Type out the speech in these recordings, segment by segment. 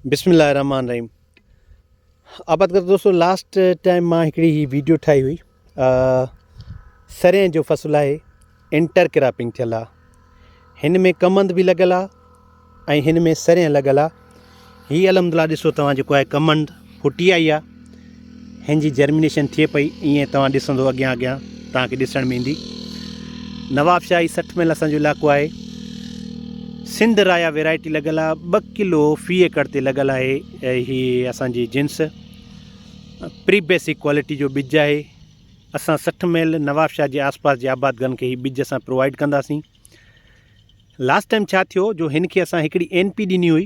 بسم الله الرحمٰن الرحيم آباد ڪر دوستو لاسٽ ٽائم مان هڪڙي هي ويڊيو ٺاهي هئي سرين جو فصل آهي انٽر ڪراپنگ ٿيل آهي هن ۾ ڪمند به لڳل آهي ۽ هن ۾ سرين لڳل آهي هي الحمد لله ڏسو توهان جيڪو آهي ڪمند ڦٽي آئي آ ھن جي جرمينيشن ٿئي پئي ايئن توھان ڏسندو اڳيان اڳيان توھان کي ڏسڻ ۾ ايندي نوابشاھي سٺ ميل اسان جو علائقو آھي سنڌ رايا ويرائٽي لڳل آ ٻه ڪلو في ايڪڙ تي لڳل آھي ھي اسان جي جنس پري بيسڪ ڪوالٽي جو ٻج آھي اسان سٺ ميل نوابشاھي جي آس پاس جي آبادگن کي ھي ٻج اسان پرووائيڊ ڪنداسين لاسٽ ٽائيم ڇا ٿيو جو ھن کي اسان ھڪڙي اين پي ڏني ھئي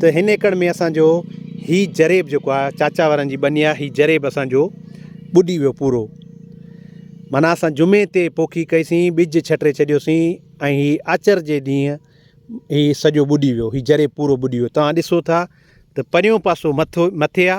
ته هن ايڪڙ ۾ اسانجو هي جريب جيڪو آ چاچا وارن جي ٻني آ هي جريب اسانجو ٻڏي ويو پورو معنيٰ اسان جمعي تي پوکي ڪئيسين ٻج ڇٽي ڇڏيوسين ۽ هي آچر جي ڏينهن هي سڄو ٻڏي ويو هي جريب پورو ٻڏي ويو تان ڏسو ٿا ته پريون پاسو مٿو مٿي آ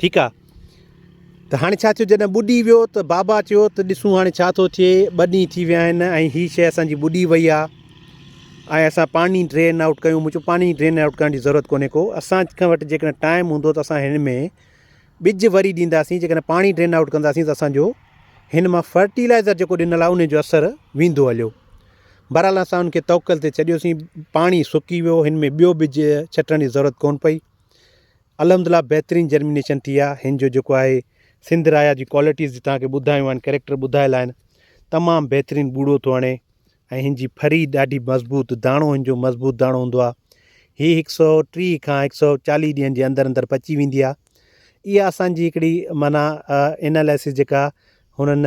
ٺيڪ آ ته هاڻي ڇا ٿيو جڏهن ٻڏي ويو ته بابا چيو ته ڏسون هاڻي ڇا ٿو ٿئي ٻه ڏينهن ٿي ويا آهن ۽ هي شيء اسان جي ٻڏي وئي آ ۽ اسان پاڻي ڊرين آئوٽ ڪيون مون چيو پاڻي ڊرين آئوٽ ڪرڻ جي ضرورت ڪونهي ڪو اسان کان وٽ جيڪڏهن ٽائيم هوندو ته اسان هن ۾ ٻج وري ڏينداسين جيڪڏهن پاڻي ڊرين آئوٽ ڪنداسين ته اسانجو هن مان فرٽيلائزر جيڪو ڏنل آ ان جو اثر ويندو هليو بهرحال اسان ان کي توڪل تي ڇڏيوسين پاڻي سڪي ويو هن ۾ ٻيو ٻج ڇٽڻ جي ضرورت ڪون پئي الحمدلله بهترين جرمينيشن ٿي آ هن جو جيڪو آهي سنڌ رايا جي ڪوالٽيز جي توهان کي ٻڌايون آهن ڪريڪٽر ٻڌايل آهن تمام بهترين ٻوڙو ٿو هڻي ۽ هن جي ڦري ڏاڍي مضبوط داڻو هن جو مضبوط داڻو هوندو آ هي هڪ سو ٽي کان هڪ سو چاليهه ڏينهن جي اندر اندر پچي ويندي آ اها اسان جي هڪڙي معنيٰ اناليسز جيڪا هنن